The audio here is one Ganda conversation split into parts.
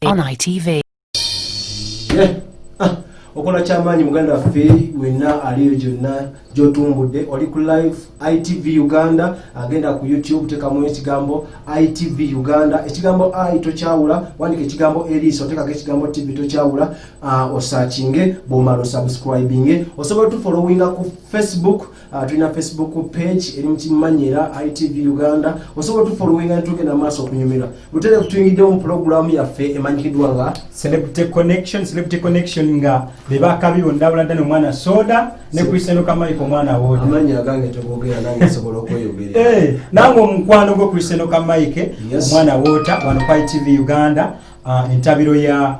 On ITV. Yeah. Ah. okola kyamaanyi muganda waffe wenna aliyo gyonna gyotumbudde oli ku live itv uganda agenda ku youtube tekamu ekigambo itv uganda ekigambo i tokyawula wandika ekigambo eriiso tekako ekigambo tv tokyawula uh, osakinge bwomala osubscribinge osobola tufolowinga ku facebook Ah, tulina facebook page eri mukimanyira itv uganda osobola tufolowinga netugenda maaso okunyumira butere kutuyingiddewo mu pulogulaamu yaffe emanyikiddwa nga celebrity connection celebrity connection nga bebakabi bonna buladda nomwana soda nekrisendoka mike omwana woamanya agange tegogera nange nsobola okweyogera eh, nange omukwano gwo krisendoka mike omwana wota wano ku itv uganda ah, entabiro ya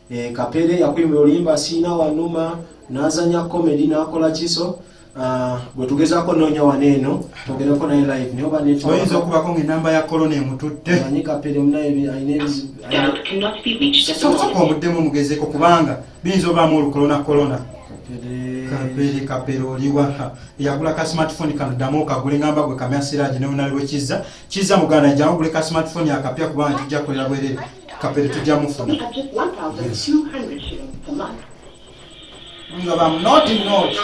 Eh, Kapere yakwimba olimba siina wanuma nazanya comedy nakola kiso ah, bwe tugezako noonya wano eno twogereko naye live naye obaoyinza okubako ngaenamba ya kolona emututte manyi kapere munayesoka omuddemu omugezeko kubanga biyinza obaamu olukolona kolona kapere kapere oliwa yagula ka smartphone kano ddamu okagule ngamba gwe kamya siraji newonali lwekizza kizza muganda jangu gule ka smartphone akapya kubanga kijja kukolera bwerere kapere tujja mufuna nga bamunoti noti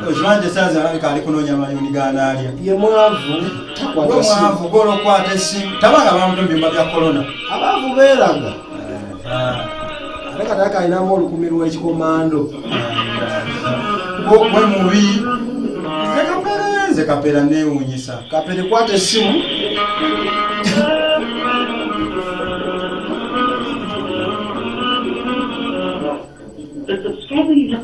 okibanti esaza alabika ali kunoonya mayuni ganaalya ye mwavu mwavu golokwata esimu tabanga bamutumbimba bya kolona abaavu beeraga ate kataka alinamu olukumi lwekikomando gwe mubi nze kapere nze kapera newunyisa kapere kwata essimu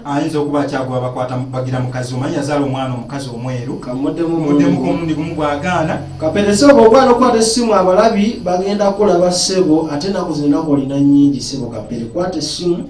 ayinza okuba akyagwa bakwata bagira mukazi omanyi yazaala omwana omukazi omweru kamuddemu komulundi gumu gwagaana kaperese oba ogwana okukwata essimu abalabi bagenda kulaba ssebo ate enaku zino enaku olina nyingi ssebo kapere kwata essimu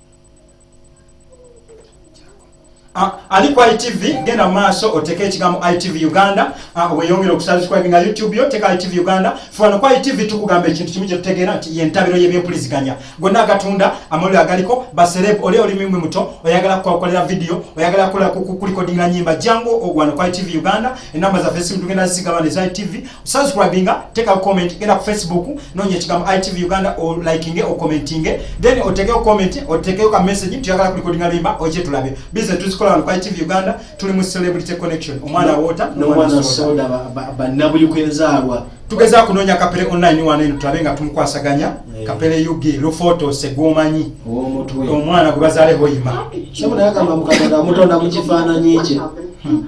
Ah, ali ku itv genda mu maaso oteeka ekigambo itv uganda ah, weyongere okusubscribinga youtube yo teeka itv uganda fano ku itv tukugamba ekintu kimu kyetutegeera nti yentabiro yebyempuliziganya gonna agatunda amawulire agaliko basereb oli olimimwe muto oyagala kukakolera vidiyo oyagala kukulikodingira nyimba jangu ogwano ku itv uganda enamba zaffe esimu tugenda zigabana eza itv subscribinga teka comment genda ku facebook nonya ekigambo itv uganda o likinge o commentinge then otekeyo comment otekeyo ka message tuyagala kulikodinga limba oje tulabe bize tuzikola wano ku itv uganda tuli mu celebrity connection omwana no, wota nomwana soda banabuyukwenzaalwa tugeza kunonya kapere online wano eno tulabe nga tumukwasaganya yeah. kapere ug lufoto segwomanyi omwana gwe bazaleho yima mutonda mukifaananyi kye hmm.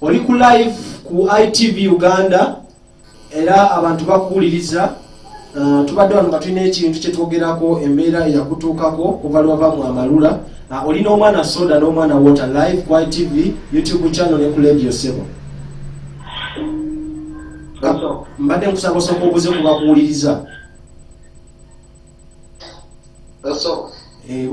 oli ku live ku itv uganda era abantu bakuwuliriza uh, tubadde wano nga tulina ekintu kyetwogerako embeera eyakutuukako kuva lwava mu amalula uh, oli n'omwana soda n'omwana water live ku itv youtube channel ne ku radio sebo mbadde nkusaba osooka obuze ku bakuwuliriza eh,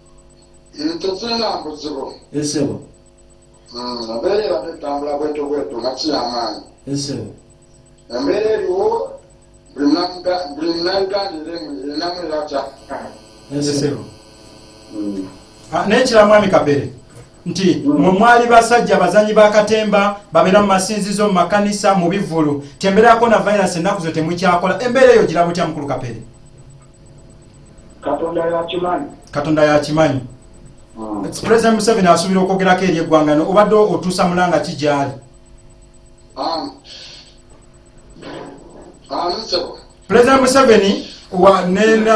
tezirina buzibu esebo embeera erabye etambula bwetu bwetu nga kiyamaanyi esebo embeera eriwo buli munauganda erinamu era kyafuna esebo ah, naye kira mwami kapere nti mwe mwali basajja abazanyi ba katemba babeera mu masinzizo mu makanisa mu bivvulu tembeera ya kona virus ennaku zo temukyakola embeera eyo gira butya mukulu kapere katonda yakimanyi katonda yakimanyi hmm. president museveni asuubira okwogerako eri eggwanga no obadde otuusa mulanga ki gyali ah. ah, president museveni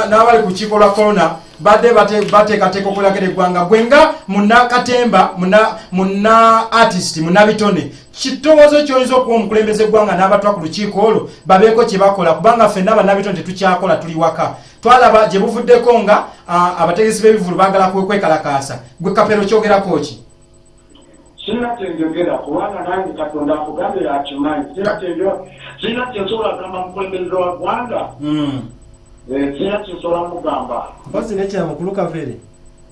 n'abali ku kiiko lwa corona badde bateekateeka okulagera eggwanga gwe nga munakatemba muna artist munabitone kitowoozo kyoyinza okuwa omukulembeze eggwanga n'abatwa ku lukiiko olwo babeeko kye bakola kubanga ffenna bannabitone tetukyakola tuli waka twalaba gye buvuddeko nga abategesi b'ebivulu baagala kwekalakaasa gwe kapero kyogerako ki sirina kyenjogera kubanga nange katonda akugambira akimanyi sirina kyensobola kugamba mukulembeze wa ggwanga hmm. eh, sirina kyensobola mugamba mpozi nekyamukulu kavere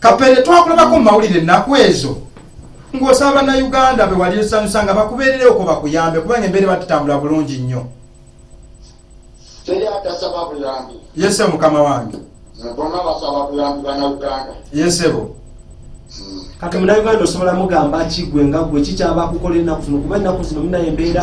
kapere twakulabako mu mawulire ennaku ezo ng'osaba bannayuganda be wali osanyusa nga bakubeerereoko bakuyambe kubanga embeere batutambula bulungi nnyo yese mukama wange yesebo hmm. kati munauganda osobola mugamba kigwe nga gwe kikyaba kukola enaku zino kuba enaku zino munaye embeera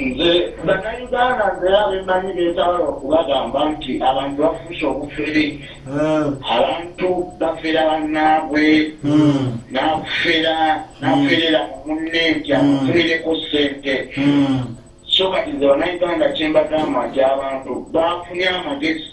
nze bannayuganda nze abemanyi betabala okubagamba nti abantu bafuuse obufere hmm. abantu bafera bannaabwe hmm. nafera naferera hmm. mumunne nti amufunireko ssente so kati nze bannayuganda kyembagamba nti abantu bafunye amagezi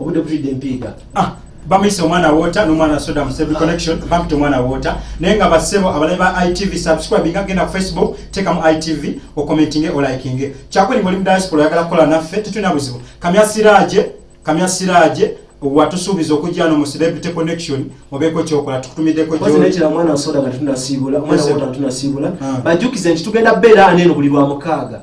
obudde butidde empiiga ah, bamuyise omwana wota nomwana soda musebi connection bampita omwana wota naye nga basebo abalabe ba itv subscribe nga genda ku facebook tekamu itv okomentinge olikinge kyakweli ngoli mu diaspora oyagala kukola naffe tetulina buzibu kamya siraje kamya siraje watusuubiza okujja no mu celebrity connection obeeko kyokola tukutumiddeko ah. bajukize nti tugenda beera aneeno buli lwa mukaaga